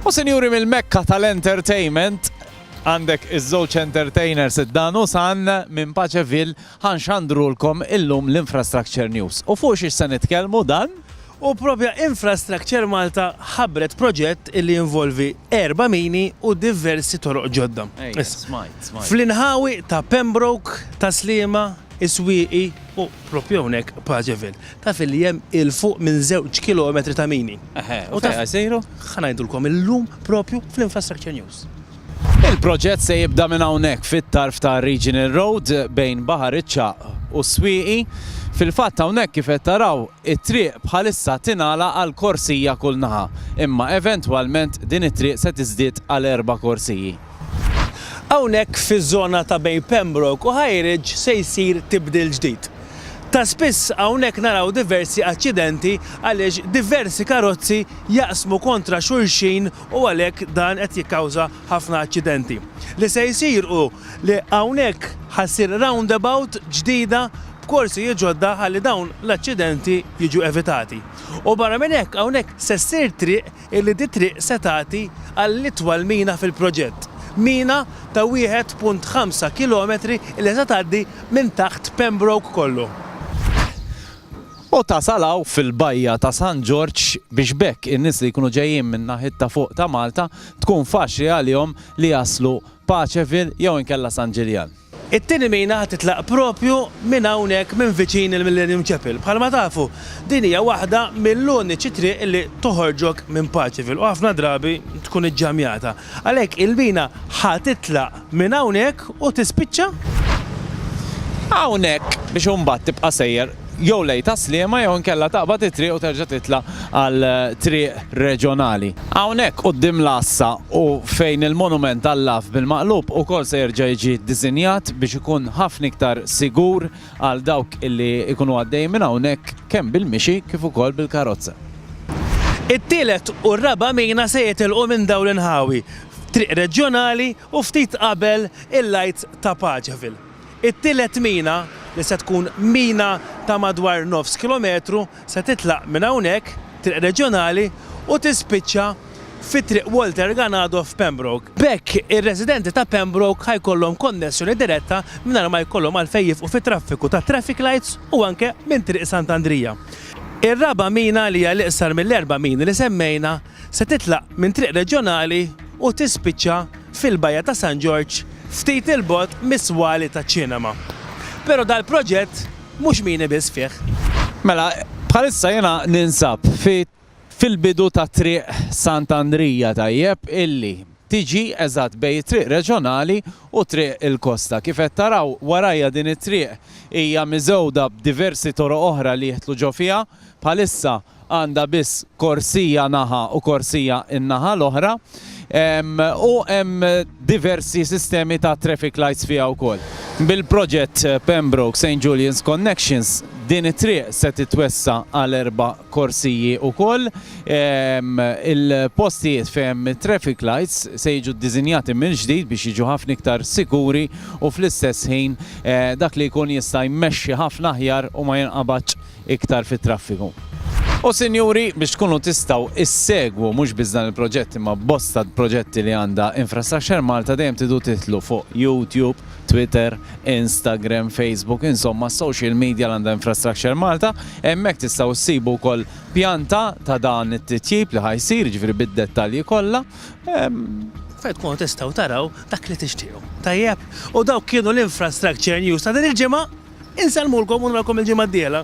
U sinjuri mill-mekka tal-entertainment, għandek iż-żewġ entertainers id-dan u san minn Paċevil ħanxandrulkom illum l-Infrastructure News. U fuq xiex se nitkellmu dan? U propja Infrastructure Malta ħabret proġett li involvi erba mini u diversi toroq ġodda. Fl-inħawi ta' Pembroke, ta' Slima, is-swieqi u proprju hawnhekk Pageville taf li hemm 'il fuq minn żewġ kilometri ta' mini. Eħe, u fejn ħa jsiru? Ħa ngħidulkom illum proprju fl-Infrastructure News. Il-proġett se jibda minn hawnhekk fit-tarf ta' Regional Road bejn Baħar iċ-Ċagħaq u s-Swieqi. Fil-fatt hawnhekk kif qed taraw It-triq bħalissa tingħalaq għal korsija kull naħa, imma eventwalment din it-triq se tiżdied għal erba' korsiji. Hawnhekk fiż-żona ta' bejn Pembroke u High Ridge se jsir tibdil ġdid. Ta' spiss hawnhekk naraw diversi aċċidenti għaliex diversi karozzi jaqsmu kontra xulxin u għalhekk dan qed jikkawża ħafna aċċidenti. Li se jsir hu li hawnhekk ħa ssir roundabout ġdida b'korsijiet ġodda ħalli dawn l-aċċidenti jiġu evitati. U barra minn hekk hawnhekk se ssir triq illi dit-triq se tagħti għall-itwal mina fil-proġett. Mina ta' 1.5 kilometri illi se tgħaddi minn taħt Pembroke kollu. U tasal hawn fil-bajja ta' San Ġorġ biex b'hekk in-nies li jkunu ġejjin min-naħiet ta' fuq ta' Malta tkun faċli għalihom li jaslu Paceville jew inkella San Ġiljan. It-tieni mina ħa titlaq propju minn hawnhekk minn viċin il-Millennium Chapel. Bħalma tafu, din hija waħda mill-uniċi triq li toħorġok minn Paċivil u ħafna drabi tkun iġġamjata. Għalhekk il-mina ħa titlaq minn hawnhekk u tispiċċa hawnhekk biex imbagħad tibqa' sejjer. jew lejn Tas-Sliema jew inkella taqbad it-triq u terġa' titla' għal triq reġjonali. Hawnhekk quddiem l-għassa u fejn il-monument għall-għav bil-maqlub ukoll se jerġa' jiġi ddisinjat biex ikun ħafna iktar sigur għal dawk li jkunu għaddejjin minn hawnhekk kemm bil-mixi kif ukoll bil-karozza. It-tielet u r-raba' mina se jitilqu minn dawn l-inħawi f'triq reġjonali u ftit qabel il-Għid ta' Paċeville. It-tielet mina, li se tkun mina ta' madwar nofs kilometru, se titlaq minn hawnhekk, Triq Reġjonali, u tispiċċa fi Triq Walter Ganado f'Pembroke. B'hekk, ir-residenti ta' Pembroke ħa jkollhom konnessjoni diretta mingħajr ma jkollhom għalfejn jifqu fit-traffiku tat-traffic lights u anke minn Triq Sant'Andrija. Ir-raba' mina, li hija l-iqsar mill-erba' mini li semmejna, Se titlaq minn triq reġjonali u tispiċċa fil-Bajja ta' San Ġorġ ftit 'il bogħod mis-swali taċ-ċinema. Però dal-proġett mhux mini biss fih. Mela, bħalissa jiena ninsab fil-bidu ta' Triq Sant' Andrija, tajjeb, illi tiġi eżatt bejn it-triq reġjonali u triq il-kosta. Kif qed taraw warajja din it-triq hija miżewda b'diversi toroq oħra li jidħlu ġo fiha. Bħalissa għandha biss korsija naħa u korsija n-naħa l-oħra u hemm diversi sistemi ta' traffic lights fiha wkoll. Bil-proġett Pembroke St Julian's Connections din it-triq se titwessa' għal erba' korsiji wkoll. Il-postijiet fejn hemm it-traffic lights se jiġu ddiżinjati mill-ġdid biex jiġu ħafna iktar sikuri u fl-istess ħin dak li jkun jista' jmexxi ħafna aħjar u ma jinqabadx iktar fit-traffiku. U sinjuri, biex tkunu tistgħu issegwu mhux biss dan il-proġett imma bosta proġetti li għandha Infrastructure Malta dejjem tidu tidħlu fuq YouTube, Twitter, Instagram, Facebook, insomma s-social media li għandha Infrastructure Malta, hemmhekk tistgħu ssibu wkoll pjanta ta' dan it-titjib li ħa jsir, jiġifieri bid-dettalji kollha. Fejn tkunu tistgħu taraw dak li tixtiequ. Tajjeb? U dawk kienu l-Infrastructure News ta' din il-ġimgħa. Insellmulkom u narakom il-ġimgħa d-dieħla.